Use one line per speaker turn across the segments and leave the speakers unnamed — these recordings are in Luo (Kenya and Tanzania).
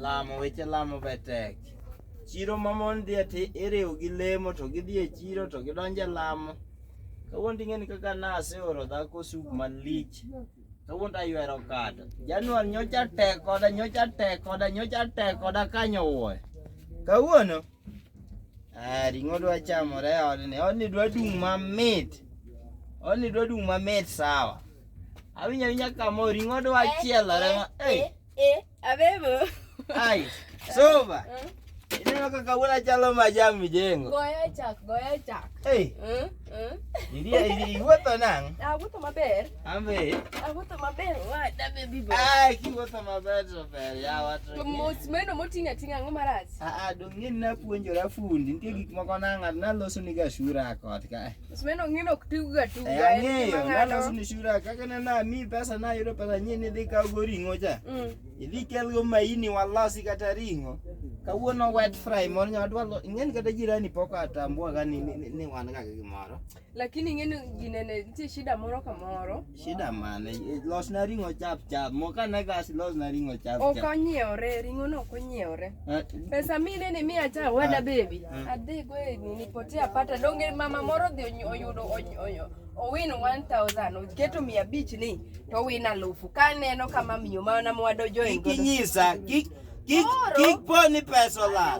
Lamo weche lamo be tek. Chiro ma mon dhie ti iriw gi lemo to gidhi e chiro to gidonje lamo. Kawuono ting'eni kaka naseoro dhako suk malich. Kawuono taywero kado. Januar nyocha tek koda nyocha tek koda nyocha tek koda kanyo wuoyo. Kawuono Ah, ring'o dwa chamore e odni. Odni dwa dung' mamit. Odni dwa dung' mamit sawa. Awinjo awinja kamo ring'o dwa chielore ma. Hey. Eh, eh, abebo. Ai. Soba. Mm. Ineno kaka wuon achalo majam mijengo. Goyo chak, goyo chak. Hey. Mm, mm. Idi idi iwuotho nang'? Ah, wuotho maber. Ambe. Awuotho maber wada baby boy. Ah, kiwuotho maber to ber ya wato. Mos meno motinga tinga ngo marach. Ah ah, dong'e na puonjora fundi. Nitie gik moko na ng'at na loso ni ga shura kot ka. Mos meno ng'ino ok tigo ga tu. Eh, ng'eyo na loso ni shura kaka na na mi pesa na yudo pesa nyi ni dhi ka go ringo cha. Mm. Idhi kel go maini walosi kata ringo. Kawuono wet fry moro nyawadwa ng'en kata jirani poko atambua ga ni ni wan ga gimoro. Lakini ing'eni ginene nitie shida moro ka moro. Shida mane? Eh, los na ring'o chap chap. Moka na gas los na ring'o chap chap. Ok onyiewre, ring'o no ok onyiewre. Eh, Pesa mi nene mi acha wada ah, baby. Eh. Adhi go e nini pote apata donge mama moro dhi oyudo onyo owin 1000 oketo 500 ni to win alufu. Ka neno kama miyo mana mwado jo ingo. Kinyisa, kik kik kik poni pesa la.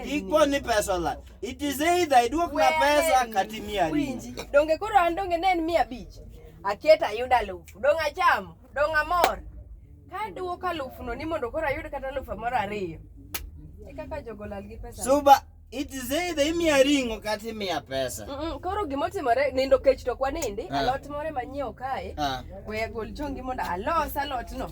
Kik poni pesa la. It is either iduok na pesa kata imiya ringo. Winji, donge koro an donge ne en mia abich? Aketa ayudo alufu, dong' achamo, dong' amor. Ka duoko alufuno ni mondo koro ayud kata alufu moro ariyo. E kaka jogo lal gi pesa. Suba, it is either imiya ringo kata imiya pesa. Mm -mm, koro gima otimore nindo kech to kwanindi, Ah. alot moro manyiewo kae. Ah. We agol chongi mondo alos alotno.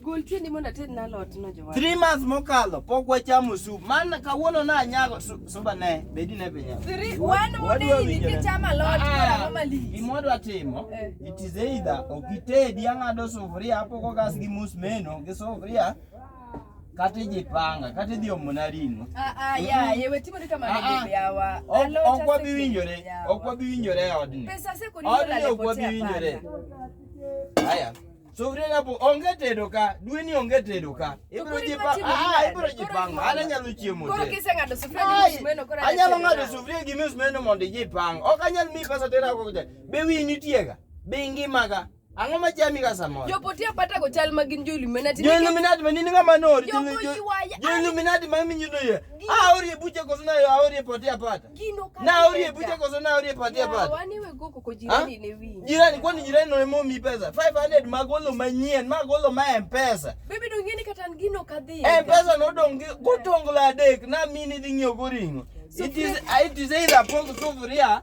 Gol tiendi mondo ated na lot no jowar. Three months mokalo pok wachamo soup. Man kawuono na anyago suba ne bedi ne pinya. Three one more day ni kichama lot ah, mara mali. Gimodwa timo. Eh. It is either okitedi ang'ado sufuria hapo kwa gas gi mus meno gi sufuria kata ijipanga kata idhi omona ring'o. Ah ah ya yewe timo ni kama ndio yawa. Ok wabi winjore. Ok wabi winjore odni. Pesa seko ni ndio la potea. Odni ok wabi winjore. Haya. Sufria na bu onge tedo ka, dwe ni onge tedo ka. Ibro koro jipa, iwachimo ah, nade? ibro Koro jipanga. iwachimo Ana nade? nyalo chiemo Koro te. kiseng'ado sufria gi Ai, msumeno koro anyalo atedo ng'ado nang'o? sufria gi msumeno mondo ijipang. Ok anyal miyi pesa tera ako kucha. Be wiyi nitiega? Be ingimaga? Ang'o ma chami ka samoro? Jopotia pata go chal ma gin jo-Illuminati. Jo Illuminati ma nini ng'ama nori? Jogo Jo- jo- yuaya. Jo Illuminati ma iminyo doye. Gi- Aorie buche koso na aorie pote apata. Na urie bute koso na urie patia pat. Wani we go koko jirani ne wingi. Jirani kwani jirani no mo mi pesa. 500 magolo manyien, magolo ma M-Pesa. Bibi dongeni kata ngino kadhi. M-Pesa no dongi gotongo la adek na mini dhi ng'io goringo. It is it is either pong sufuria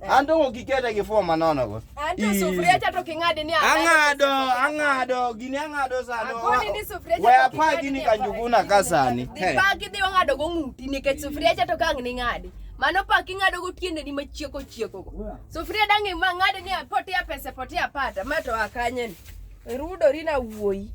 An to ok iketa gi form manono go. An to sufuria cha to king'ade ni ang'ado ang'ado gini ang'ado sano. Akoni ni sufuria cha. We apa gini kanjuguna ka sani. Dhi pa gidhi wang'ado go ng'uti nikech sufuria cha to kang' ni ng'adi. Mano pa king'ado go tiende ni machieko chieko go. Sufuria dangi ma ng'ade ni potia pesa potia pata ma to akanye ni. Rudori na wuoyi.